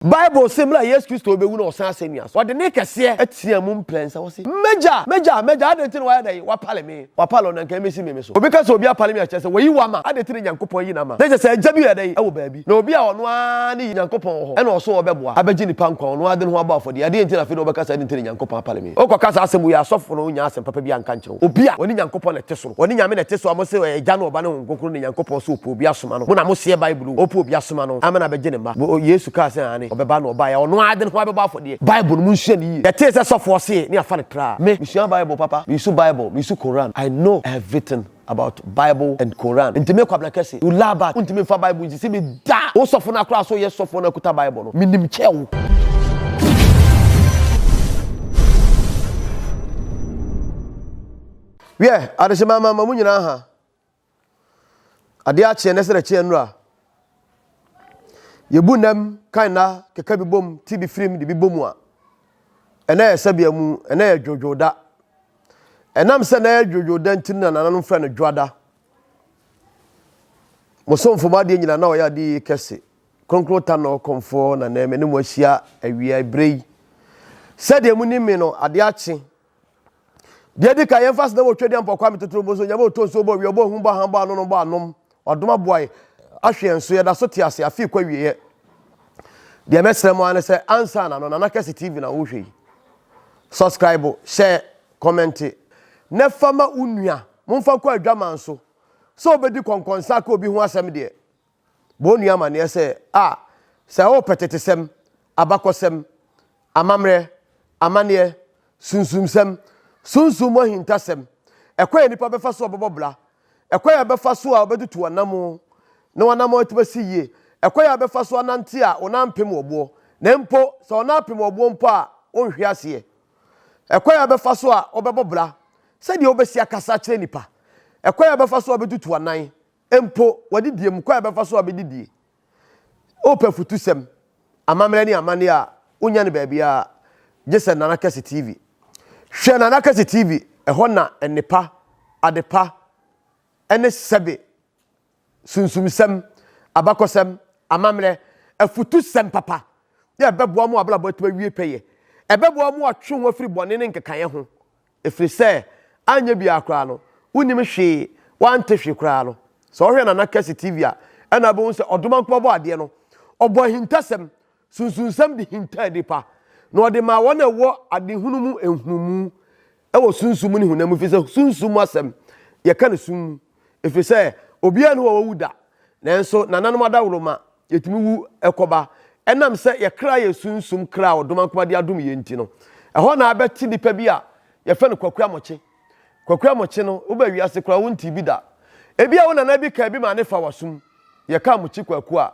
Bible se bere a Yesu Kristo rebewu na ɔsan asennua so, ɔde nne kɛseɛ teaa mu mprɛnsa, ɔse, M'Agya! M'Agya! M'Agya! Adɛn nti na woayɛ dɛn? Woapale me. Woapale wɔn a anka ɛmmɛsi me me so. Obi ka sɛ obi apale me a, ɛkyerɛ sɛ wayi wo ama. Adɛn nti na Nyankopɔn ayi no ama? Na ɛkyerɛ sɛ agya bi yɛ dɛn? Ɛwɔ baabi. Na obi a ɔno ara ne yi Nyankopɔn wɔ hɔ, ɛna ɔso ɔbɛboa, abɛgye nnipa nkwa, ɔno ara de ne ho abɔ afɔdeɛ. Adɛn nti na afei na wobɛka sɛ adɛn nti na Nyankopɔn apale me? Wokɔka saa asɛm wei a, asɔfo no nnya asɛm papa biara nka nkyerɛ wo. Obi a ɔne Nyankopɔn na ɛte soro. Ɔne Nyame na ɛte so a mose ɔyɛ Agya ne Ɔba ne Honhom Kronkron ne Nyankopɔn so ɔpɛ obi asoma no. Mo na moseɛ Bible ɔpɛ obi asoma no ama no abɛgye ne mma. Bo Yesu kaa sɛ aane, ɔbɛba na ɔbaeɛ a ɔno ara de ne ho abɛbɔ afɔdeɛ. Bible no monsua no yie. Yɛtee sɛ sɔfoɔ see ne afa no traa. Me, mesua Bible papa, mesu Bible, mesu Koran. I know everything about Bible and Koran. Nti me Kwabena Kese, you laa bat, wontumi mfa Bible nsi sɛ bɛ. Da! Wo sɔfo no akora so yɛ sɔfoɔ no akuta Bible no. Menim kyɛ wo. Wiɛ, adehyema ama ma mo nyinaa ha. Adeɛ akyeɛ nɛ srɛ kyeɛ nnura. Yɛbu nnam kan nna keka bi bom ti bi firim de bi bɔ mu a, ɛnna yɛ sɛbea mu, ɛnna yɛ dwodwoo da. Ɛnam sɛ na yɛ dwodwoo da nti no na nananom frɛ no dwoada. Mo somfo mo adeɛ nyina na ɔyɛ adeɛ yie kɛse. Kronkron Tanor Komfoɔ na nɛ me ne mo ahyia awia eberɛ yi. Sɛdeɛ mo nim me no, adeɛ akye. Deɛ edi kan, yɛmfa sɛ na wɔtwa aduan pɔ Kwame Totoro Boso, Nyame ɔtɔ nsuo ɔbɔ owia, ɔbɔ ahum, ɔbɔ ahan, ɔbɔ anono, ɔbɔ anom. Wadom aboa yɛ, ahwɛ yɛn so, yɛda so te ase, afei kɔ awieɛ. Deɛ mɛsrɛ mo ara ne sɛ, ansa na no, Nana Kɛse TV na wohwɛ yi. Subscribe, hyɛ, Kɔmɛnte, Na fa ma wo nua. Momfa kɔ adwaman so. Sɛ obedi kɔnkɔnsa aka obi ho asɛm deɛ, bɔ onua amanneɛ sɛ, A, sɛ worepɛ tetesɛm, abakɔsɛm, amammerɛ, amanneɛ, sunsumsɛm, sunsum mu ahintasɛm, ɛkwan a nnipa bɛfa so a wɔbɛbɔ bra, ɛkwan a wɔbɛfa so a wɔbɛtutu wɔn anammɔn na wɔn anammɔn atumi asi yie, ɛkwan a wɔbɛfa so anante a wo nan mpem wo boɔ, na mpo sɛ wo nan apem wo boɔ mpo a, wonhwe aseɛ. Ɛkwan a wobɛfa so a wobɛbɔ bra, sɛdeɛ wobɛsi akasa akyerɛ nnipa, ɛkwan a wobɛfa so a wobɛtutu w'anan, mpo w'adidie mu, kwan a wobɛfa so a wobɛdidie. Wopɛ afutusɛm, amammerɛ ne amanneɛ a, wonnya no baabiara, gye sɛ Nana Kɛse TV. Hwɛ Nana Kɛse TV, ɛhɔ na nnepa, adepa, ne sɛbe. sunsumsɛm, abakɔsɛm, amammerɛ, afutusɛm papa, na ɛbɛboa wɔn abrabɔ atumi awie pɛyɛ. Ɛbɛboa wɔn atwe wɔn afiri bɔne ne nkekaeɛ ho, ɛfiri sɛ anyɛ biara koraa no, wonim hwee, wɔante hwee koraa no. Sɛ wohwɛ Nana Kessy TV a, ɛnna wobɛhu sɛ Ɔdomankoma Ɔbɔadeɛ no, ɔbɔ ahintasɛm, Sunsunsɛm de hintaa nnipa, na ɔde maa wɔn a ɛwɔ adehunu mu nhunumu wɔ sunsum mu ne honam mu, efisɛ sunsum mu asɛm yɛka no sum mu, efisɛ obiara ne hɔ a wawu da, nanso nananom adaworoma yɛtumi wu kɔba ɛnam sɛ yɛ kra yɛ sunsum kra a ɔdomankoma de adom yɛn nti no. Ɛhɔ na abɛte nipa bi a yɛfɛ no Kwaku Amokye. Kwaku Amokye no, woba wiase koraa wontee bi da. Ebia wo nana bi kaa bi maa ne fa wasum. Yɛka Amokye Kwaku a,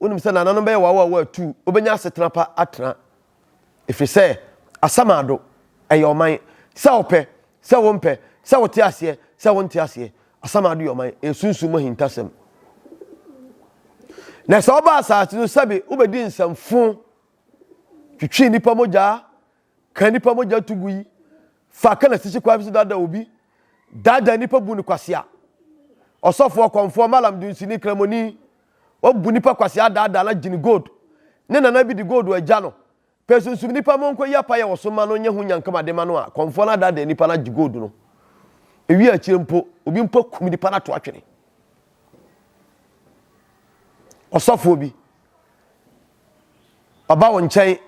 Wonim sɛ nananom bɛyɛ wɔawɔawɔ atuu, wobɛnya asetena pa atena. Ɛfiri sɛ Asamaado, ɛyɛ ɔman. Sɛ wopɛ, sɛ wompɛ, sɛ wote aseɛ, sɛ wonte aseɛ, Asamaado yɛ ɔman, ɛyɛ sunsum mu ahintasɛm. Na sɛ wobaa asase so, sɛbe wobɛdi nsɛmfoo, twitwii nnipa mogyaa, Ka nnipa mogya to gu yi fa ka na sisi kwan bi so daadaa obi, daadaa nnipa bu no kwasea. Ɔsɔfo ɔkɔmfoɔ Malam dunsini kramoni ɔbu nnipa kwasea daadaa na gyini gold ne nana bi de gold agya no pɛ sunsum nnipa ma ɔnkɔyi apayɛ wɔ so mma no nyɛ ho nyankama de ma no a kɔmfoɔ no adaadaa nnipa no agye gold no ewie akyire mpo obi mpo akum nnipa no ato atwene ɔsɔfoɔ bi Ɔba wo nkyɛn,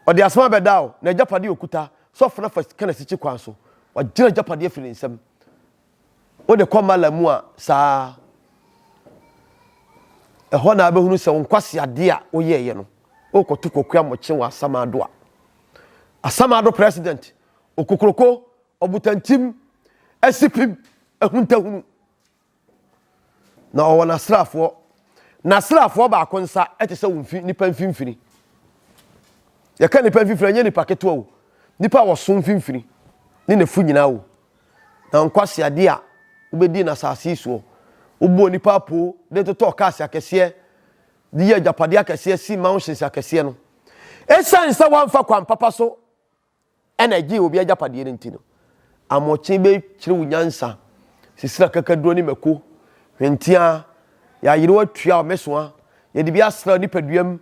ɔde asɛm abɛda wo, na agyapade a ɔkuta, sɛ ɔfena fa ka no asikyi kwan so, wagyina agyapadeɛ afiri ne nsam. Wode kɔ mala mu a, saa ara. Ɛhɔ na wobɛhunu sɛ wo nkwaseadeɛ a woyɛeɛ no, worekɔto kokoa mmɔkye wɔ Asamaado a. Asamaado president, okokroko, ɔbotantim, asipim, ahuntahunu. Na ɔwɔ n'asraafoɔ. N'asraafoɔ baako nsa te sɛ wo mfi nnipa mfimfini. Yɛka nnipa mfimfini, ɛnyɛ nnipa ketewa o. Nnipa a wɔso mfimfini ne n'afu nyinaa o. Na nkwaseadeɛ a wobɛdii no asase yi soɔ. Wobɔɔ nnipa apoo de totɔɔ cars akɛseɛ, de yɛɛ agyapadeɛ akɛseɛ, sii mansions akɛseɛ no. Ɛsiane sɛ woamfa kwan papa so na ɛgyee obi agyapadeɛ no nti no, Amokyee bɛkyerɛ wo nyansa, sisire akakaduro ne mako, hwenteaa, yɛayere wo atua wo mɛsoa, yɛde bi asra wo nipaduam,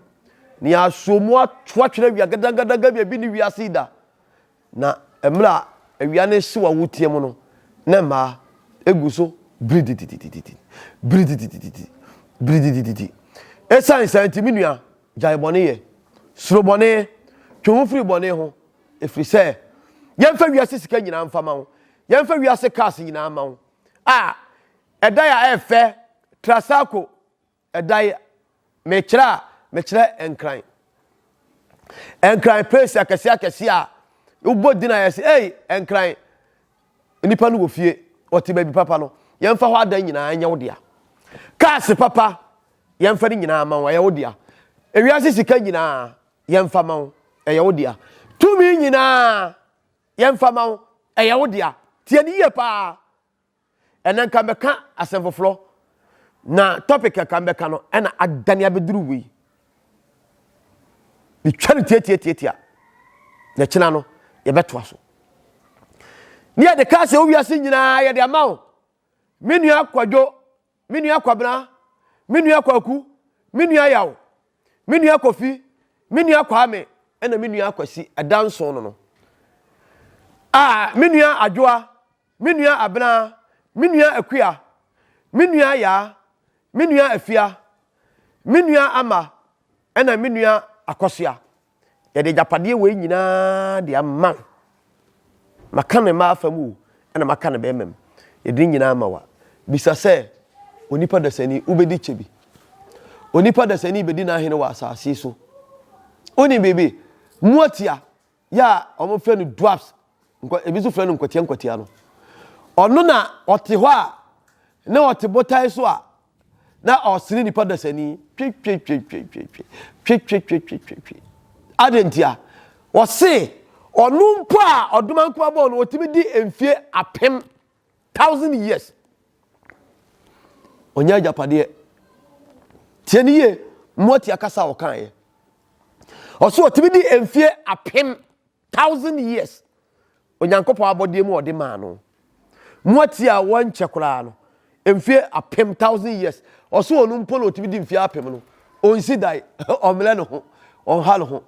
na yɛasoɔ mu ato atwene awia gadagadaga bi a ebi ne wiase yi da. Na mmerɛ a awia no hyew a woteɛ mu no, na mmaa egu so biridididididi, biridididididi, biridididididi. Esiane saa nti, me nua, Gyae bɔne yɛ. Suro bɔne. Twe wo ho firi bɔne ho, ɛfiri sɛ yɛmfa wiase sika nyinaa mfa ma wo, yɛmfa wiase cars nyinaa ma wo. A, ɛdan a ɛyɛ fɛ, Trasaco ɛdan, mekyerɛ a, mekyerɛ Nkran. Nkran place akɛseɛ akɛseɛ a wobɔ din a yɛse ei Nkran. Nnipa no wɔ fie, wɔte baabi papa no, yɛmfa hɔ adan nyinaa nyɛ wo dea. Cars papa, yɛmfa ne nyinaa ma wo, ɛyɛ wo dea. Ewiase sika nyinaa, yɛmfa ma wo, ɛyɛ wo dea. Tumi nyinaa, yɛmfa ma wo, ɛyɛ wo dea. Tie no yie paa. Ɛnɛ nka mɛka asɛm foforɔ, na topic a nka mɛka no ɛna adane abɛduru wei. metwa no tiatiatiatia na kyena no yɛbɛtoa so ne yɛde kaa sɛ wowiase nyinaa yɛde ama wo me nua kwadwo me nua kwabena me nua kwaku me nua yaw me nua kofi me nua kwame ɛna me nua kwasi ɛda nson no no a me nua adwoa Me nua Abena, me nua Akua, me nua Yaa, me nua Afia, me nua Ama, ɛna me nua Akɔsoa. Yɛde agyapadeɛ wei nyinaa de ama wo. Maka ne mmaa fa mu o, ɛna maka ne bɛrima mu. Yɛde ne nyinaa ama wa. Bisa sɛ, onipa dasani, wobɛdi kyɛ bi? Onipa dasani bɛdi n'ahene wɔ asase so? Wonim biribi? Moatia, yɛ a wɔfrɛ no dwarfs, ebi nso frɛ no nkwatia nkwatia no. Ɔno na ɔte hɔ a, na ɔte botae so a, na ɔsene nipa dasani. Twetwetwetwetwetwetwetwetwe. Adɛn ntia? Ɔse, ɔno mpo a ɔdomankoma bɔɔ no, ɔtumi di mfie apem Thousand years. Ɔnyɛ agyapadeɛ. Tie ne yie, mmoati akasa a ɔkaeɛ. Ɔso ɔtumi di mfie apem, thousand years. Onyankopɔn abɔdeɛ mu a ɔde maa no. Mmoati a wɔnkyɛ koraa no, mfie apem, thousand years. Ɔso ɔno mpo na ɔtumi di mfie apem no. Ɔnsi dan, ɔmmrɛ ne ho, ɔnha ne ho.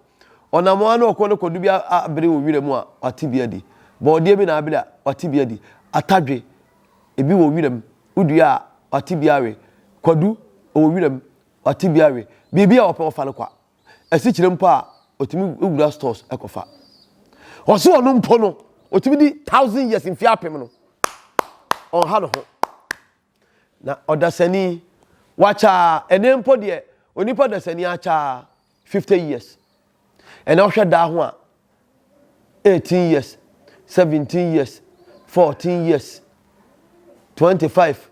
Ɔnam ara na ɔkɔ no kɔdu bi abere wɔ wira mu a, wate bi adi. Bɔɔdeɛ bi na abere a, wate bi adi. Atadwe, ebi wɔ wira mu. Wodua a, wate bi awe. Kwadu, ɔwɔ wira mu, wate bi awe. Biribiara a ɔpɛ, ɔfa no kwa. Asikyire mpo a, ɔtumi wura stores kɔfa. Ɔse ɔno mpo no, ɔtumi di thousand years, mfeɛ apem no, ɔnha ne ho. Na ɔdasani, wakyaa, ɛnɛ mpo deɛ, onipa dasani akyaa. fifty years ɛna wohwɛ daa ho a eighteen years seventeen years fourteen years twenty five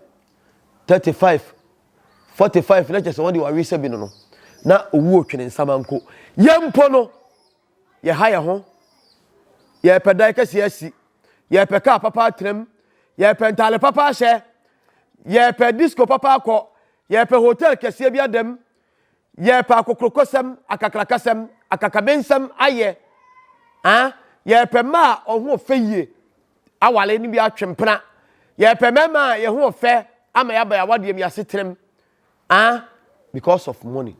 thirty five forty five na kyɛ sɛ wɔn de wɔawe sɛ bi no no na owu otwene nsama nko yɛn mpo no yɛha yɛn ho yɛpɛ dan kɛse asi yɛpɛ kaa papa atram yɛpɛ ntaale papa ahyɛ yɛpɛ disco papa akɔ yɛpɛ hotel kɛseɛ bi adam Yɛrepɛ akokrokosɛm, akakrakasɛm, akakabensɛm ayɛ. Ah, yɛrepɛ mma a wɔn ho fɛ yie aware no bi atwe mpena. Yɛrepɛ mmarima a yɛn ho fɛ ama yɛaba yɛn awadeɛ mu yɛasetenam. Ah, because of money.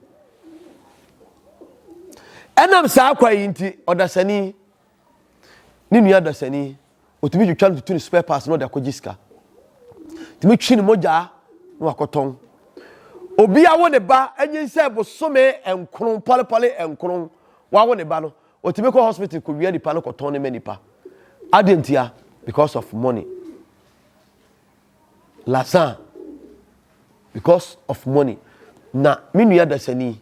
Ɛnam saa kwa yi nti, ɔdasani Ne nua dasani, otumi twitwa no tutu no spare parts na ɔde akɔgye sika. Tumi twi ne mogya na wakɔtɔn. Obi awo ne ba anyin sɛ bosome nkron pɔlepɔle nkron wawo ne ba no, otumi kɔ hospital kɔwia nipa no kɔtɔn ne ma nipa. Adeɛ ntia because of money. Lazan because of money. Na me nua dasani,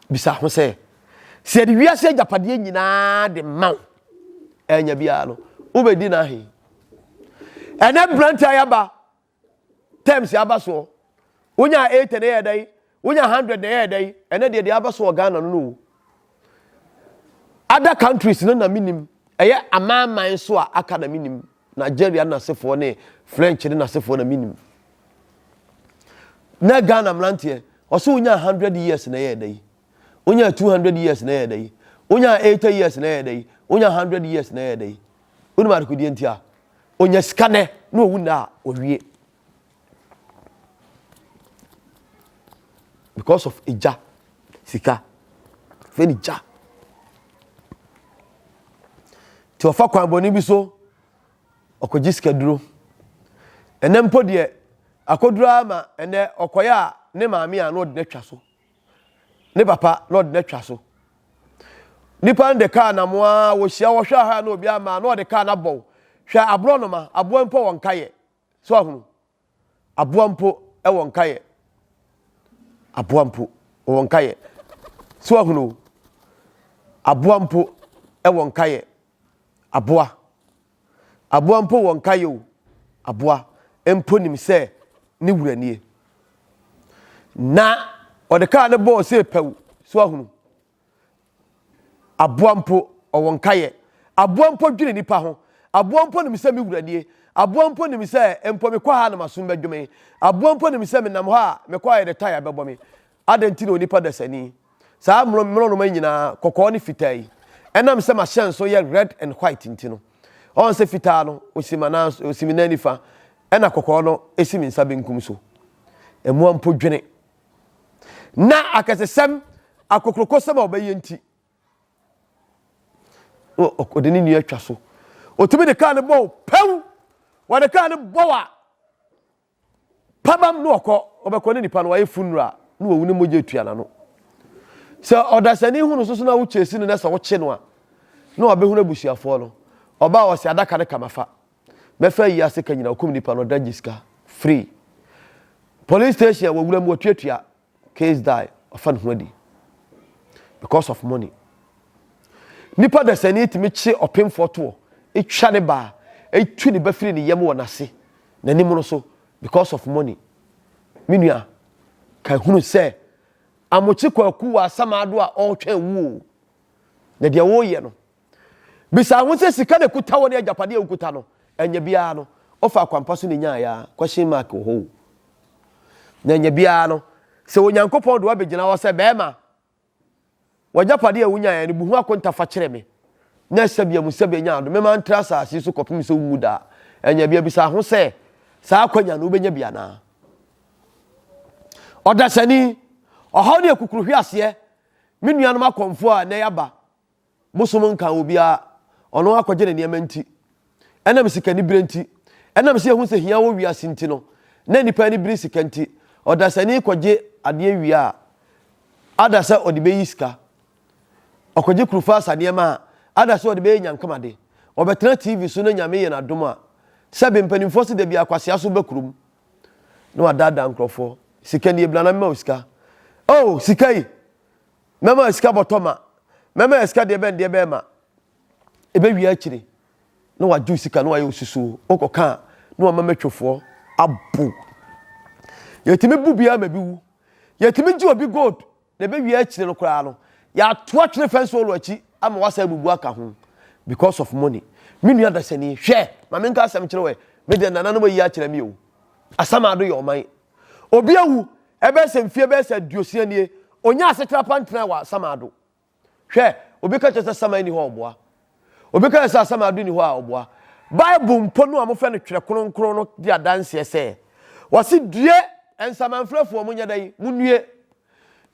bisa ho sɛ sɛ yɛde wiase agyapadeɛ nyinaa de ma wo ɛnya biara no wobɛdi no ahe ɛnɛ berante ayɛ aba terms aba soɔ wonya 8 na ɛyɛ dɛn wonya 100 na ɛyɛ dɛn ɛnɛ deɛ deɛ aba so wɔ ghana no no o other countries no na menim ɛyɛ amanaman so a aka na menim Nigeria ne n'asefoɔ ne French ne n'asefoɔ na menim. Na Ghana mmeranteɛ, ɔse wonyaa 100 years na ɛyɛ da yi. Wonyaa 200 years na ɛyɛ da yi. Wonyaa 80 years na ɛyɛ da yi. Wonyaa 100 years na ɛyɛ da yi. Wonim adekodeɛ nti a, ɔnya sika nɛ na ɔwu nɛ a, ɔwie. Because of egya sika fɛ ne gya nti ɔfa kwan bɔne bi so ɔkɔgye sika duro ɛnɛ mpo deɛ akɔduro ara ma ɛnɛ ɔkɔyɛ a ne maame a na ɔde no atwa so ne papa na ɔde no atwa so nipa no de kaa nam a wɔhyia wɔhwɛ aha na obi ama na ɔde kaa no abɔw hwɛ aborɔ noma aboa mpo wɔn nka yɛ So ahono? Aboa mpo wɔ nkaeɛ. Aboa mpo wɔ nkaeɛ. So ahono? Aboa mpo wɔ nkaeɛ. Aboa. Aboa mpo wɔ nkaeɛ o. Aboa mpo nim sɛ ne wura nie. Na ɔde kaa no bɔɔ sɛ pɛw. So ahono? Aboa mpo, ɔwɔ nkaeɛ. Aboa mpo dwene nnipa ho. Aboa mpo nim sɛ me wura nie. Aboa mpo nim sɛ mpo mekɔ ha a na m'aso no bɛdwo me. Aboa mpo nim sɛ menam hɔ a mekɔ ayɛ dɛtɔ a yare bɛbɔ me. Adɛn nti na onipa dasani? Saa mmorɔnoma yi nyinaa, kɔkɔɔ ne fitaa yi, ɛnam sɛ m'ahyɛnso yɛ red and white nti no. Ɔn sɛ fitaa no si m'anan so, si me nan nifa, ɛna kɔkɔɔ no si me nsa benkum so. Mmoa mpo dwene. na akɛsesɛm, akokurokosɛm a ɔbɛyɛ nti, ɔde ne nua atwa so. Otumi de kaa no bɔ o, pɛw! Wɔde kaa no bɔ a, pabam na ɔkɔ, ɔbɛkɔ ne nipa no wayɛ funra na wawu ne mogya atua n'ano. Sɛ ɔdasani hunu soso na wokyesi no na sɛ wokye no a, na wabɛhunu abusuafoɔ no. Ɔbaa ɔse adaka no kama fa, Bɛfa yi ase ka nyina okum nipa no ɔda gye sika free police station wɔ wuram wɔtuatua case die ɔfa ne ho adi because of money nipa dasani tumi kye ɔpemfoɔ toɔ etwa ne baa etu ne ba firi ne yam wɔ n'ase n'anim no so because of money me nua ka hunu sɛ amokye kwaku wɔ asamaado a ɔretwɛn wuo na deɛ wɔreyɛ no Bisa ho sɛ sika na ɛkuta wo ne agyapadeɛ a wokuta no ɛnyɛ biara no wofa kwampa so na ɛnyaeɛ a, question mark wɔ hɔ o. Na ɛnyɛ biara no sɛ Onyankopɔn de wo abɛgyina hɔ sɛ bɛrima w'agyapadeɛ a wonyaeɛ no bu ho akonta fa kyerɛ me na ɛsɛ bia mu sɛ bɛnya adom mema ntra asase yi so kɔpem sɛ wonwu da a ɛnyɛ bia bisa ho sɛ saa akwanya no wobɛnya bi anaa. Ɔdasani, ɔhaw ne akukuruhweaseɛ Me nuanom akɔmfoɔ a nnɛ yɛaba Bosom nkaa obiara, ɔno akɔgye ne nneɛma nti. Ɛnam sikanibere nti, ɛnam sɛ yɛahu sɛ hia wɔ wiase nti no, na nnipa ani bere sika nti, ɔdasani kɔgye adeɛ wie a, ada sɛ ɔde bɛyi sika. Ɔkɔgye Kurufasa nneɛma a, ada sɛ ɔde bɛyɛ nyankamade. Ɔbɛtena TV so na Nyame yɛ no adom a, sɛbe mpanimfoɔ se da biara kwasea so ba kurom na wadaadaa nkurɔfoɔ. Sika nie, bra na mema wo sika. Oh! Sika yi! Mɛma asika bɔtɔ ma. Mɛma yɛ sika deɛ bɛn deɛ bɛn ma ɛbɛ wia akyire na wa gye osika na wa yɛ osusuo okɔ ka a na wa ma mɛtwefoɔ abo yɛ tumi bu biara ma bi wu yɛ tumi gye obi gold na ɛbɛ wia akyire no koraa no yɛ ato atwene fɛnsi ɔlɔ akyi ama wasa abubu aka ho because of money me nua dasani hwɛ ma menka asɛm kyerɛ wɛ me deɛ nananom ayi akyerɛ me o asamado yɛ ɔman Obi awu ɛbɛyɛ sɛ mfie bɛyɛ sɛ aduosia nie, ɔnyaa asetra pa ntenae wɔ Asamado. Hwɛ, obi ka kyerɛ sɛ Asamai nni hɔ a ɔboa. Obi ka kyerɛ sɛ Asamado nni hɔ a ɔboa. Bible mpo no a wɔfrɛ no Twerɛ Kronkron no di adanseɛ sɛ, wɔse, Due, nsamanfrɛfoɔ, monyɛ dɛn? Monnue.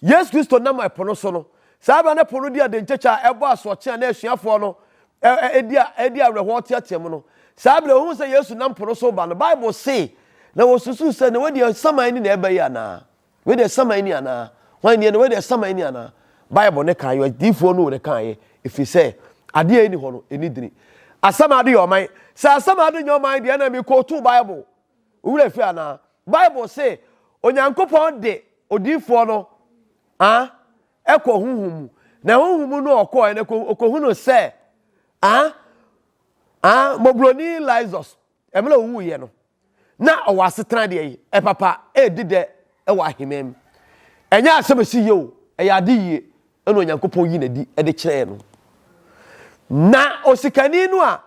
Yesu Kristo nam ɛpo no so no, saa berɛ no ɛpo no di adenkyekyɛ a ɛbɔ asoɔkye a na asuafoɔ no di awerɛhoɔ teateam no. Saa berɛ wɔhunu sɛ Yesu nam po no so reba no, Bible se, Na wɔsusuu sɛ, Na wei deɛ nsaman ni na ɛreba yi anaa? Wei deɛ nsaman ni anaa? Hwan nie no? Wei deɛ nsaman ni anaa? Bible no kaeɛ, odiyifoɔ no na ɛkaeɛ, ɛfiri sɛ adeɛ a ɛnni hɔ no, ɛnni dini. Asɛm a ade yɛ ɔman. Sɛ asɛm a ade nyɛ ɔman deɛ, ɛnna mekootu Bible Wo werɛ fi anaa? Bible se Onyankopɔn de odiyifoɔ no ah, kɔ honhom mu. Na honhom mu no ɔkɔɔɛ na ɔkɔhunu sɛ ah, ah, mmɔborɔni Lazarus, mmerɛ ɔwuiɛ no, na ɔwɔ asetena deɛ yi, papa, ɛredi dɛ wɔ aheman mu. Ɛnyɛ asɛm ɛsi yie o, ɛyɛ ade yie na Onyankopɔn yi n'adi de kyerɛɛ no. Na osikani no a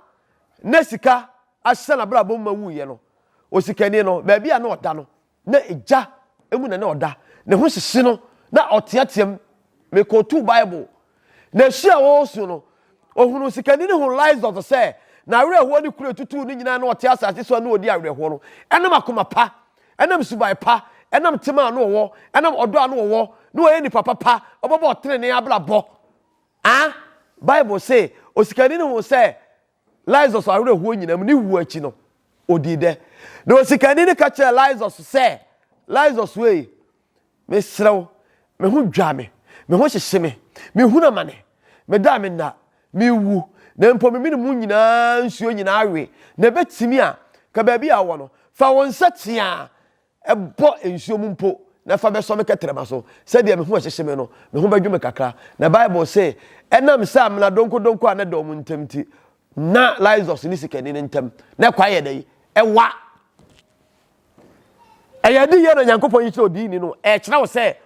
na sika ahyɛ n'abrabɔ mu ma wuiɛ no, osikani no, baabi a na ɔda no, na gya mu na na ɔda. Ne ho hyehye no, na ɔteateam. Mekɔtuu Bible. Na su a ɔresu no, ɔhunuu sikani no hunuu Lysot sɛ n'awerɛhoɔ ne kuro a ɛtutuu no nyinaa na ɔte asase so a na ɔdi awerɛhoɔ no ɛnam akoma pa, ɛnam suban pa, ɛnam tema a na ɔwɔ, ɛnam ɔdɔ a na ɔwɔ, na ɔyɛ nipa papa, ɔbɛbɔ ɔtenenee abrabɔ. A Bible se, Osikani no huu sɛ Lazarus awerɛhoɔ nyinaa mu, ne wuo akyi no, ɔdii dɛ. Na osikani no ka kyerɛɛ Lazarus sɛ, Lazarus ei, mesrɛ wo, me ho dwa me, me ho hyehye me, mehunu amane, meda a menna, merewu, na mpo me mene mu nyinaa nsuo nyinaa awe, na ɛbɛtumi a, ka baabi a wowɔ no, fa wo nsa teaa. Bɔ nsuo mu mpo na fa bɛsɔ me kɛtrɛma so, sɛdeɛ me ho rehyehye me no, me ho bɛdwo me kakra. Na Bible se, Ɛnam sɛ amena donkɔdonkɔ a na ɛda wɔn ntam nti, na Lysias ne Sikerni no ntam na ɛkwan yɛ dɛn? Ɛwa. Ɛyɛ adiyie na Nyankopɔn yi kyerɛ odiini no, ɛrekyerɛ wo sɛ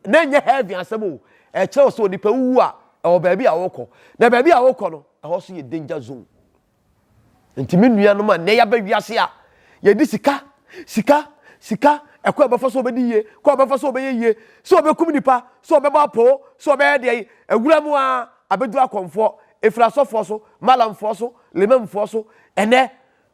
na ɛnyɛ heaven asɛm o, ɛrekyerɛ wo sɛ onipa wuwu a, ɛwɔ baabi a ɔrekɔ. Na baabi a ɔrekɔ no, ɛhɔ nso yɛ danger zone. Nti me nuanom a nnɛ yɛaba wiase a yɛde sika, sika, sika, ɛkɔ a ɛbɛfa so ɔbɛdi yie, kɔ a ɔbɛfa so ɔbɛyɛ yie, sɛ ɔbɛkum nipa, sɛ ɔbɛbɔ apoo, sɛ ɔbɛyɛ deɛ yi, awura mu a abɛduru akɔmfoɔ, ɛfiri asɔfoɔ so, malamfoɔ so, limamfoɔ so, ɛnɛ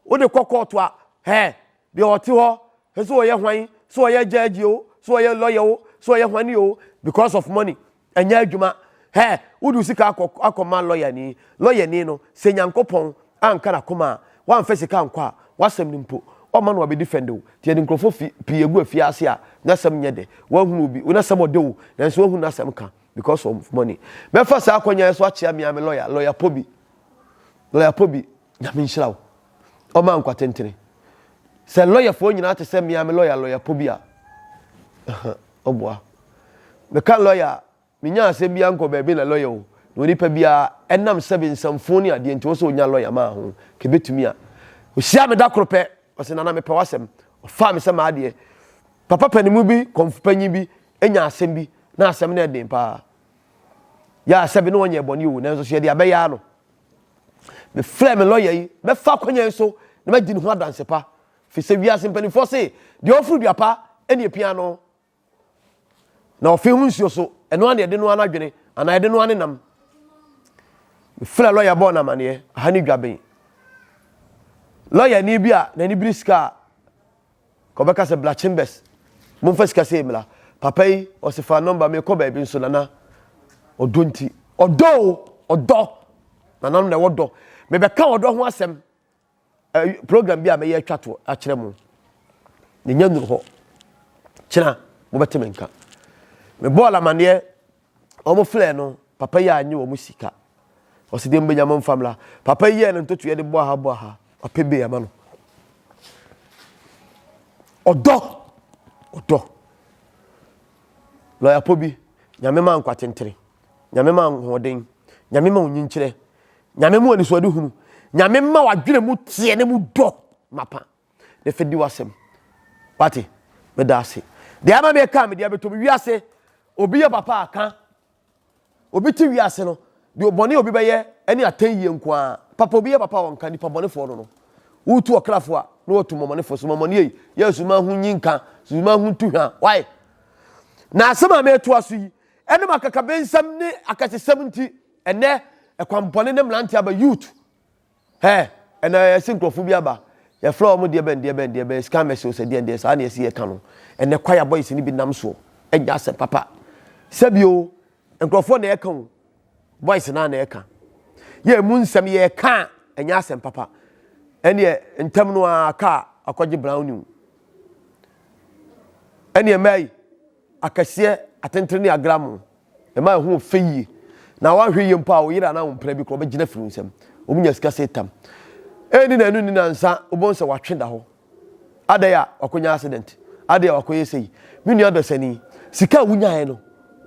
wode kɔ kɔɔto a, hɛɛ, deɛ ɔte hɔ hwɛ sɛ ɔyɛ hwan sɛ ɔyɛ judge o sɛ ɔyɛ lawyer o sɛ ɔyɛ hwan ni o because of money ɛnyɛ adwuma hɛ wodu sika akɔ akɔma lawyer ni lawyer ni no sɛ nyankopɔn anka n'akoma a wamfa sika ankɔ a wasɛm no mpo ɔma no wabɛdi fɛnde o nti yɛde nkurɔfoɔ fi pii egu afiase a n'asɛm nyɛ dɛ wahunu obi n'asɛm ɔdɛ o nanso wahunu n'asɛm ka because of money mɛfa saa akɔnya yɛ so akyea mea me lawyer lawyer pɔ bi Lawyer po bi, Nyame nhyira wo. Ɔma nkwa tentene. Sɛ lawyer foɔ nyinaa te sɛ mea me lawyer lawyer po bi a, ɔboa. Meka lawyer a, menya asɛm bi a nkɔ baabi na lawyer o, na onipa biara, ɛnam sɛbe nsɛmfoo ne adeɛ nti, ɔwɔ sɛ ɔnya lawyer maa ho. Ka ɛbɛtumi a. Ɔhyiaa me da koro pɛ, ɔse Nana mepɛ w'asɛm. Ɔfaa me sɛ m'adeɛ. Papa panimu bi, kɔmfopanyin bi, nyaa asɛm bi, na asɛm no yɛ den paa. Yɛ a sɛbe na ɔnyɛɛ bɔne o, nanso so yɛde abɛyɛ ara no. Mefrɛɛ me lɔya yi, mɛfa akwannya yi so na madi ne ho adanse pa, ɛfiri sɛ wiase mpanimfoɔ se, deɛ ɔforo dua pa na ɛpia no, na ɔfe ho nsuo so, ɛno ara na ɛde noa n'adwene, anaa ɛde noa ne nam. Mefrɛɛ lɔya bɔɔ no amanneɛ, aha ne Dwaben. Lɔyani bi a n'ani bere sika a. Ɔbɛka sɛ bla chambers momfa sika sei mmra papa yi ɔse fa number mekɔ baabi nso nana ɔdɔ nti ɔdɔ o ɔdɔ nananom na ɛwɔ dɔ mebɛka ɔdɔ ho asɛm program bi a mɛyɛ atwa to akyerɛ mo ne nya nuru hɔ kyena mobɛte me nka mebɔɔ lamaneɛ Wɔn frɛɛ no, papa yi annye wɔn sika. Ɔse deɛ mobɛnya mo mfa mmra. Papa yi yɛɛ no ntotoeɛ de bɔɔ ha bɔɔ ha. Wapɛ bail ama no. Ɔdɔ! Ɔdɔ! Lɔya pɔ bi, Nyame ma nkwatentere. Nyame ma ahoɔden. Nyame ma onyinkyerɛ. Nyame ma anisoadehunu. Nyame ma w'adwene mu teɛ na mu dɔ mapa. na fa di w'asɛm. Wate? Meda ase. Deɛ ama me kaa me deɛ bɛtɔ mu wiase. Obi yɛ papa a ka. Obi te wiase no, deɛ ɔbɔne obi bɛyɛ ne atɛn yie nko ara. Papa obi yɛ papa a ɔnka nipa bɔnefoɔ no no. Wotu ɔkrafoɔ a, na watu mmɔmɔnefoɔ so. Mmɔmɔne ei, yɛ asuman ho nyi nka, asuman ho ntu hwa. Why? Na asɛm a metoa so yi, ɛnam akakabensɛm ne akɛsesɛm nti, ɛnɛ ɛkwampɔne ne mmeranteɛ aba, youth, Hɛ! Ɛna yɛse nkurɔfoɔ bi aba, yɛfrɛ wɔn deɛbɛn deɛbɛn deɛbɛn, scammers o, sɛ deɛndeɛn, saa na yɛse yɛka no. Ɛnɛ kwaya boys no bi nam soɔ anya asɛm papa. Sɛbi o, nkurɔfoɔ na ɛka o, boys no ara na ɛka. Yɛ ɛmu nsɛm yɛka a, ɛnyɛ asɛm papa. Ɛneɛ ntɛm no ara kaa akɔgye brown new. Ɛneɛ mmaa yi. Akɛseɛ, atentene ne agramo ɛma ɛho yɛ fɛ yie. Na woanhwɛ yie mpo a wo yere anaa wo mpena bi koraa ɔbɛgyina afiri wo nsam. Wɔnya sika sɛ tam. Ɛnni na ɛno nni nansa wobɛhu sɛ watwe da hɔ. Adɛn a wakɔnya accident? Adɛn a wakɔyɛ sei? Me nua dɔsani, sika a wonyaeɛ no,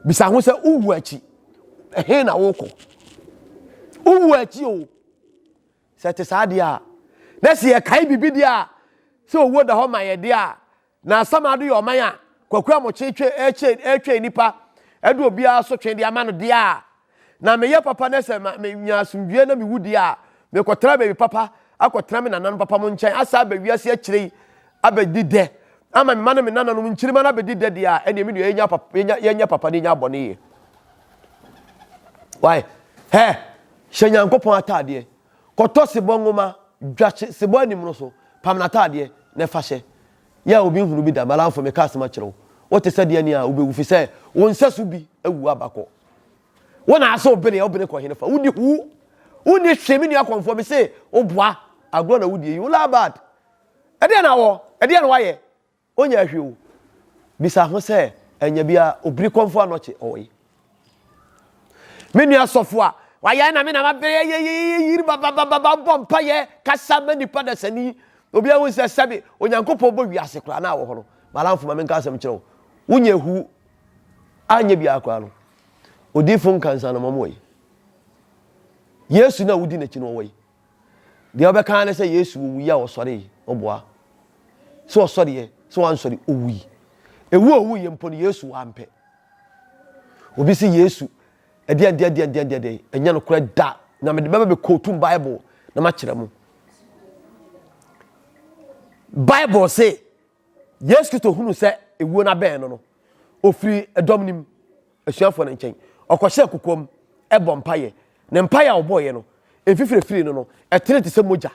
bisa ho sɛ wowu akyi ɛhe na wokɔ? Wowu akyi o. Sɛ ɛte saa deɛ a, na sɛ yɛkae biribi deɛ a sɛ owuo da hɔ ma yɛn deɛ a, Na asamado yɛ ɔman a Kwaku Amokyee twe ɛkyɛ ɛtwɛn nipa ɛde obiara asotwe de ama no deɛ a na me yɛ papa na sɛ ma me nya asomdwie na me wu deɛ a me kɔ tra baabi papa akɔ tra me nananom papa mo nkyɛn asa aba wiase akyire yi aba di dɛ ama me ma ne me nananom nkyirima no abɛdi dɛ deɛ a ɛneɛ me nua yɛnya papa yɛnya yɛnya papa ne yɛnya abɔne yɛ why hɛ hyɛ Nyankopɔn ataadeɛ Kɔtɔ sebɔ nwoma, dwa hye sebɔ anim no so, pam n'ataadeɛ, na fa hyɛ. Yɛ a obi nhunu bi da. Balaamfo, meka asɛm akyerɛ wo, wote sɛ deɛ nea wobɛwu, ɛfiri sɛ wo nsɛso bi awu aba. Kɔ. Wo na asɛ wobene a, wobene kɔ henefa? Wodi hu! Wonni hwee, me nua kɔmfoɔ, mese wo boa! Agorɔ na wodie yi, wo Laabad! Ɛdeɛn na wɔ? Ɛdeɛn na woayɛ? Ɔnnyɛɛ hwee o. Bisa ho sɛ, Anya bi a obiri kɔ mfo anɔkye ɔwɔ yi? Me nua sɔfo a wayae na me na mabɛyɛ yeyeyeyeyir bababababa bɔ mpaeɛ kasa ma nnipa dasani yi. Obiara hu sɛ sɛbe Onyankopɔn bɔ wiase koraa na awɔ hɔ no, Malamfo ma menka asɛm nkyerɛ wo, wonnya ehu anyɛ biara koraa no, odiyifo nkansano ma ɔwɔ yi. Yesu no a wodi n'akyi no ɔwɔ yi. Deɛ ɔbɛka ara ne sɛ Yesu owui a ɔsɔre yi, ɔboa. Sɛ ɔsɔreɛ, sɛ wansɔre, owui. Ewu a owuiɛ mpo no, Yesu wampɛ. Obi se Yesu, ɛdeɛn deɛn deɛn deɛn deɛn deɛn, ɛnyɛ nokorɛ da. Na mede bɛba bɛ kootum Bible na makyerɛ mo. Bible se, Yesu Kristo hunu sɛ ewuo no abɛn no no, ɔfiri ɛdɔm no mu, asuafoɔ no nkyɛn. Ɔkɔhyɛɛ kokoam bɔ mpaeɛ. Ne mpaeɛ a ɔbɔeɛ no, mfifire firii no no, ɛtene te sɛ mogya,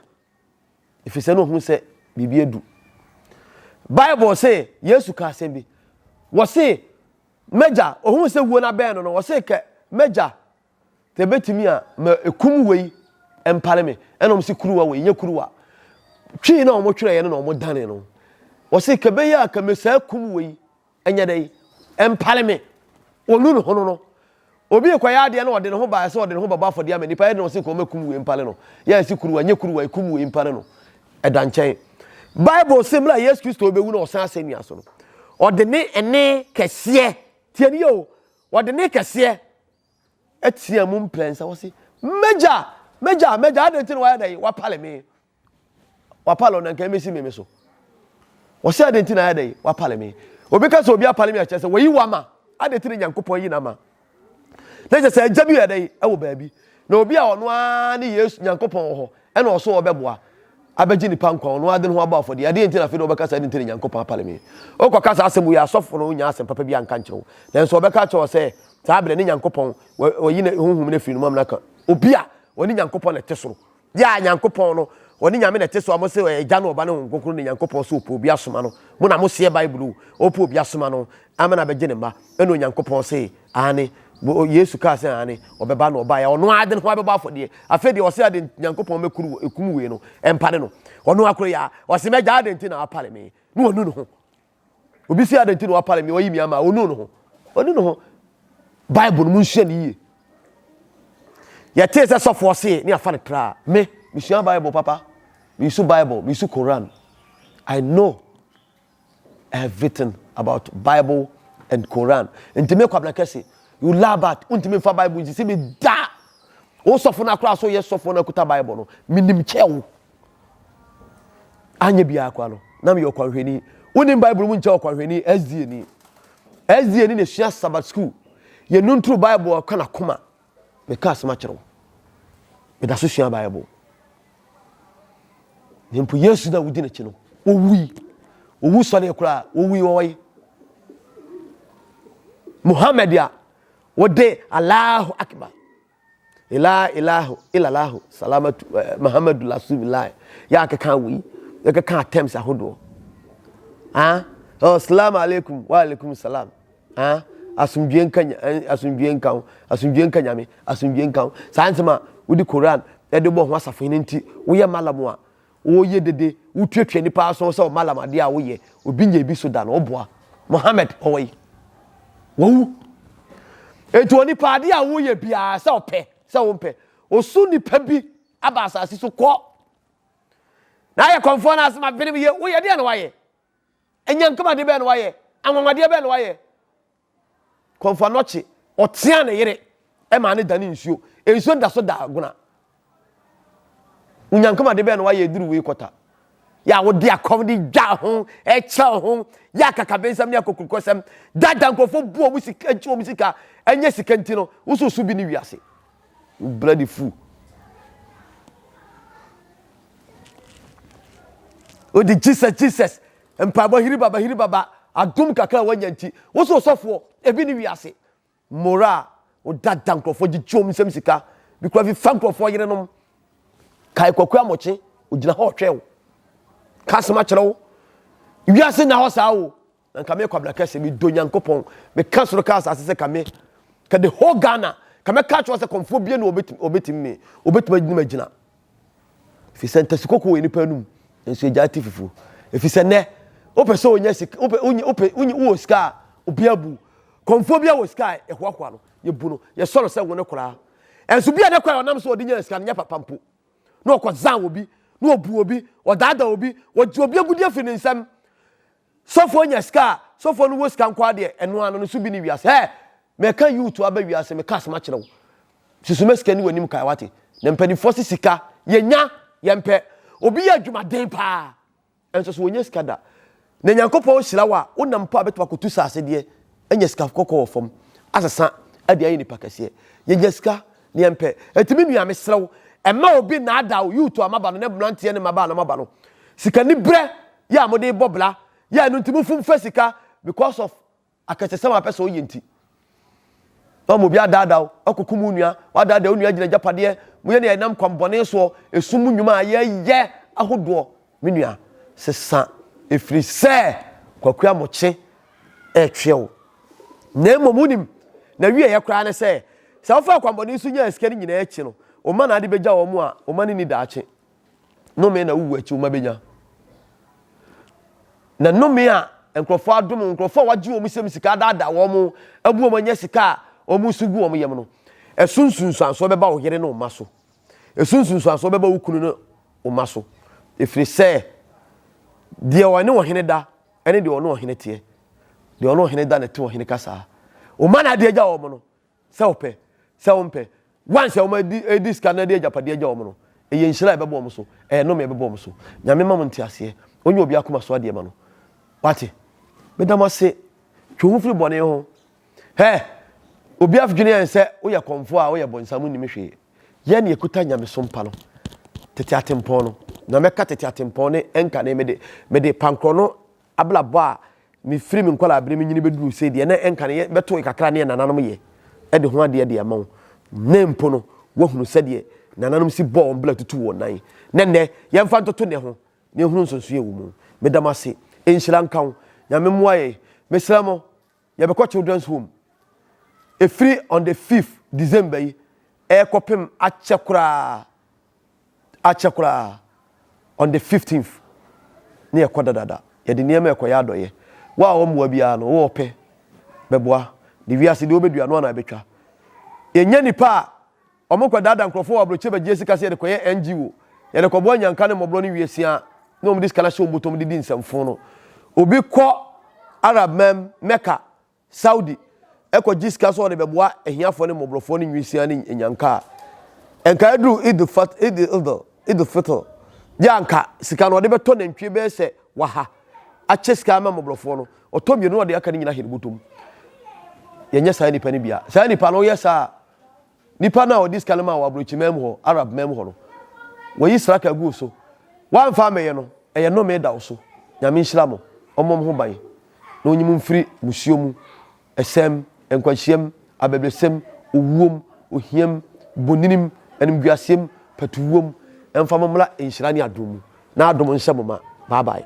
ɛfiri sɛ na ɔhunu sɛ biribi adu. Bible se Yesu ka asɛm bi. Wɔse, M'agya, ɔhunu sɛ wuo no abɛn no no, ɔse, kɛ, M'agya, Sɛ ebetumi a, ma ekum wei mpare me. Ɛna wɔn se kuruwa wei, nyɛ kuruwa. Twi na wɔn twerɛeɛ no na wɔn dane no. Wɔse ka bɛyɛ a ka mesaa kum wei, ɛnyɛ dɛ yi, ɛmpare me. Wɔnu ne ho no no. Obi rekɔyɛ adeɛ na ɔde ne ho baeɛ sɛ ɔde ne ho bɛbɔ afɔdeɛ ama nipa, ɛde na wɔse ka wɔn akum wei mpare no. Yɛ ɛse kuruwa, nyɛ kuruwa, ekum wei mpare no. Ɛda nkyɛn. Bible se mmerɛ a Yesu Kristo rebɛwu na ɔsan asɛnnua so no, ɔde ne ɛne kɛseɛ, tie ne yie o, Wɔde nne kɛseɛ teaa mu mprɛnsa, wɔse, M'agya! M'agya! M'agya! Adɛn nti na wayɛ dɛn? Wapale me. Wapale ɔno, anka ɛmmɛsi me me so. Wɔse, adɛn nti na ayɛ dɛn? Wapale me. Obi ka sɛ obi apale me a, kyerɛ sɛ wayi wama. Adɛn nti na Nyankopɔn yi n'ama? Na kyerɛ sɛ agya bi yɛ dɛn? Ɛwɔ baabi. Na obi a ɔno ara ne Yesu, Nyankopɔn wɔ hɔ. Ɛna ɔso a ɔbɛboa abɛgye nipa nkwa ɔno ara de ne ho abɔ afɔdeɛ. Adeɛ nti na afei na ɔbɛka saa, ɛde nti na Nyankopɔn apale me. Wokɔka saa asɛm wei a, asɔfo no nnya asɛm papa bi anka nkyerɛ wo. Nanso wɔbɛka akyerɛ wo sɛ, saa berɛ ne Nyankopɔn, wa, wayi ne Honhom no afiri ne mom na aka obi a ɔne Nyankopɔn na ɛte soro. Yea, Nyankopɔn no, ɔne Nyame na ɛte soro a mose ɔyɛ Agya ne Ɔba ne Honhom Kronkron ne Nyankopɔn sɛ ɔpɛ obi asoma no. Mo na moseɛ Bible o. Ɔpɛ obi asoma no ama no abɛgye ne mma. Ɛna Onyankopɔn see, Aane, Yesu kaa sɛ aane, ɔbɛba na ɔbaeɛ a ɔno ara de ne ho abɛbɔ afɔdeɛ. Afei deɛ ɔse aden nti Nyankopɔn mɛkuru wɔ ekum wei no, ɛmpare no. Ɔno akoro yi ara, ɔse m'Agya aden nti na wapare me, na ɔnu ne ho. Obi se aden nti na wapare me, ɔyi me ama a, ɔnu ne ho? Ɔnu ne ho. Bible no, monsua no yie. Yɛtee sɛ sɔfoɔ see ne yɛafa no tra a, me, mesua Bible papa. Mesu Bible, mesu Koran. I know. everything about bible and koran nti me kwabena kɛse you lie about wontumi nfa bible nsisi me da wo sɔfo no akora so yɛ sɔfo no akuta bible no menim kyɛ wo anyɛ biara kwa no na meyɛ ɔkwanhwɛni wonim bible mu nkyɛ ɔkwanhwɛni sda ni sda ni na ɛsua sabbat school yɛnu ntoro bible ɔka nakoma Meka asɛm akyerɛ wo. Meda so sua Bible. Na mpo Yesu na wodi n'akyi no, owui. Owu sɔre koraa, owui wɔ hɔ. Muhammad a wɔde Allahu Akbar ila ilahu ilalahu salamatu eh, muhammadu rasulillah yɛ akeka wei yɛkeka attempts ahodoɔ ah oh, salamu alaikum wa alaikum salam Ah, asomdwoeɛ nka nya, eh, asomdwoeɛ nka wo, asomdwoeɛ nka nyame, asomdwoeɛ nka wo. Saa nsɛm a wode Koran de bɔ ho asafo hene nti, woyɛ malam a woyɛ dede, wotuatua nnipa aso sɛ wo malam adeɛ a woyɛ, obi nyɛ bi so da na woboa. Mohammed, ɔwɔ yi. Wawu. Enti onipa adeɛ a woyɛ biara sɛ ɔpɛ, sɛ wompɛ, osu nipa bi aba asase so kɔ. Na ayɛ kɔmfoɔ no asɛm abenem yɛ, woyɛ deɛ na wayɛ. Anyankopɔn ade bɛn na wayɛ? Anwanwadeɛ bɛn na wayɛ? Kɔmfoɔ anɔkye, ɔteaa ne yere maa ne dane nsuo. Nsuo no da so da agona. Onyankopɔn ade bɛn na wayɛ duru wei kɔta? Yɛ a wode akɔm de dwa ho, ɛkyɛw ho, yɛ akakabensɛm ne akokurukɔsɛm, dada nkurɔfoɔ bu wɔn sika, gye wɔn sika, ɛnyɛ sika nti no, wososo bi ne wiase. Wo bloody fool. Wode Jesus Jesus mpaebɔ hiri baba hiri baba adom kakra a wanya nti wo so ɔsɔfoɔ ebi ne wiase mora a woda da nkurɔfoɔ gyegye wɔn nsam sika bi kura fi fa nkurɔfoɔ yerenom kae kwaku amɔkye ogyina hɔ ɔtwɛn wo ka asɛm akyerɛ wo wiase na hɔ saa o Na nka meyɛ kwabena kɛse medɔ nyankopɔn meka soro ka asase sɛ ka me ka the whole Ghana ka mɛka kyerɛ sɛ kɔmfoɔ bie no ɔbɛtumi me ɔbɛtumi agyina magyina ɛfiri sɛ ntasi kɔkɔ wɔ nipa anum nso ɛgya te fufuo ɛfiri sɛ nɛ wopɛ sɛ ɔnya sika wopɛ wowɔ sika a obi abu kɔmfoɔ bi a wɔ sika a ɛhoahoa no yɛbu no yɛsɔ no sɛ wo no koraa ɛnso bi a ne kora ɔnam so ɔde nya sika no nyɛ papa mpo na ɔkɔzan wɔ bi na ɔbu obi ɔdaadaa obi ɔgye obi agudi afiri ne nsam Sɔfoɔ nya sika a, sɔfoɔ no wɔ sika nko ara deɛ, ɛno ara no, ne so bi ne wiase. Hɛɛ! Meka youth aba wiase, meka asɛm akyerɛ wo. Susu ma sika ni w'anim kae, wate? Na mpanimfoɔ se sika, yɛnya, yɛmpɛ. Obi yɛ adwumaden paa, nso so ɔnnya sika da. Na Nyankopɔn hyira wo a, wonam mpo a bɛtumi akɔtu saase deɛ, anya sika kɔkɔɔ wɔ fam, asesa de ayɛ nipa kɛseɛ. Yɛnya sika, na yɛmpɛ. Enti me nua, mesrɛ wo, mma obi nnaadaa wo, youth a moaba no, ne mmeranteɛ ne mmabaa a na moaba no, sikaniberɛ yɛ a mo de bɔ bra yɛ ɛno nti mo fom fɛ sika because of akɛsɛsɛm a wapɛ sɛ ɔyɛ nti na ɔmo obi adaada wo ɔkɔ kum wo nua wadaada wo nua gyina gyapadeɛ mo yɛ ne ɛnam kwan bɔne soɔ esum mo nnwuma a yɛ yɛ ahodoɔ me nua sesa efiri sɛ kwakua mo kye ɛtweɛ wo na mmom mo nim na wie yɛ koraa ne sɛ sɛ wofa kwan bɔne so nyaa sika ne nyinaa akyi no wo ma na ade bɛgya wɔn a wo ma ne ni daakye Nnome na wuwu akyi wo mma benya. Na nnome a nkurɔfoɔ adom wo, nkurɔfoɔ a wɔagye wɔn sɛm sika adaadaa wɔn, abu wɔn anya sika a wɔn nso gu wɔn yam no, ɛso nsunsuansoɔ bɛba wo yere ne wo mma so. Ɛso nsunsuansoɔ bɛba wo kunu ne wo mma so. Ɛfiri sɛ deɛ ɔne ɔhene da ne deɛ ɔne ɔhene teɛ, deɛ ɔne ɔhene da na ɛte ɔhene kasaa. Wo mma na ade agya wɔn no. Sɛ wɔpɛ, sɛ wɔmpɛ. Wɔn sɛ wɔadi sika no de agyapadeɛ agya wɔn no, ɛyɛ nhyira a ɛbɛba wɔn so, ɛyɛ nnome a ɛbɛba wɔn so. Nyame mma mo nteaseɛ. Ɔnyɛ obi akoma so adeɛ ma no. Wate? Meda mo ase. Twe wo ho firi bɔne ho. Hɛ! Obi adwene yɛn sɛ woyɛ kɔmfoɔ a woyɛ bɔnsam nnim hwee. Yɛn na yɛkuta nyamesom pa no. Tete atempɔn no. Na mɛka tete atempɔn ne ɛnkane mede, mede pankorɔ no Abrabɔ a mefiri me nkwadaa-bere mu nyini bɛduruu sei deɛ, na ɛnka no yɛ bɛtoe kakra ne yɛ nananom yɛ de ho adeɛ de ama wo. Nnɛ mpo no, woahunu sɛdeɛ nananom si bɔɔ wɔn bra tutuu wɔn nan. Na nnɛ, yɛmfa ntoto nnɛ ho na yɛnhunu nsonsoeɛ a ɛwɔ mu. Meda mo ase. Nhyira nka wo. Nyame mmoa yɛn. Mesrɛ mo, Yɛbɛkɔ children's home ɛfiri on the fifth December yi ɛrekɔpem akyɛ koraa akyɛ koraa on the fifteenth ne yɛkɔ dadada yɛde nneɛma ɛkɔyɛ adɔyɛ wo a wɔmmoa biara no wowɔ pɛ bɛboa ne wiase deɛ wobɛdua no ana ɛbɛtwa yɛnya nipa a Wɔkɔdaadaa nkurɔfoɔ wɔ abrokyeɛ bɛgyeɛ sika sɛ yɛde kɔyɛ NGO, yɛde kɔboa nyanka ne mmɔborɔ ne wiasia na wɔde sika no ahyɛ wɔn bɔtɔm de di nsɛmfoo no. Obi kɔ Arab man, Mecca, Saudi, kɔgye sika sɛ ɔde bɛboa ahiafoɔ ne mmɔborɔfoɔ ne nwiasia ne nyanka a, nka aduru Eid-al-Fitr deɛ a anka sika no ɔde bɛtɔ nantwie bɛyɛ sɛ waha akyɛ sika ama mmɔborɔfoɔ no, ɔtɔ mmienu na ɔde aka no nyinaa ahyɛ ne bɔtɔm. Yɛnyɛ saa nnipa no bi a. Saa nnipa no, woyɛ saa a, nipa no a ɔde sika no maa wɔ aburokyiman mu hɔ, Arab man mu hɔ no, wɔyi sraka guu so. Wɔamfa ammɛyɛ no, ɛyɛ nnome da wo so. Nyame nhyira mo. Ɔmmɔ mo ho ban, na ɔnyi mo mfiri mmusuo mu, ɛsɛɛ mu, nkwanhyia mu, abɛbrɛsɛ mu, owuo mu, ohia mu, bonini mu, animguaseɛ mu, patuwuo mu. Ɛmfa mo mmra nhyira ne adom mu, na adom nhyɛ mo ma. Bye bye.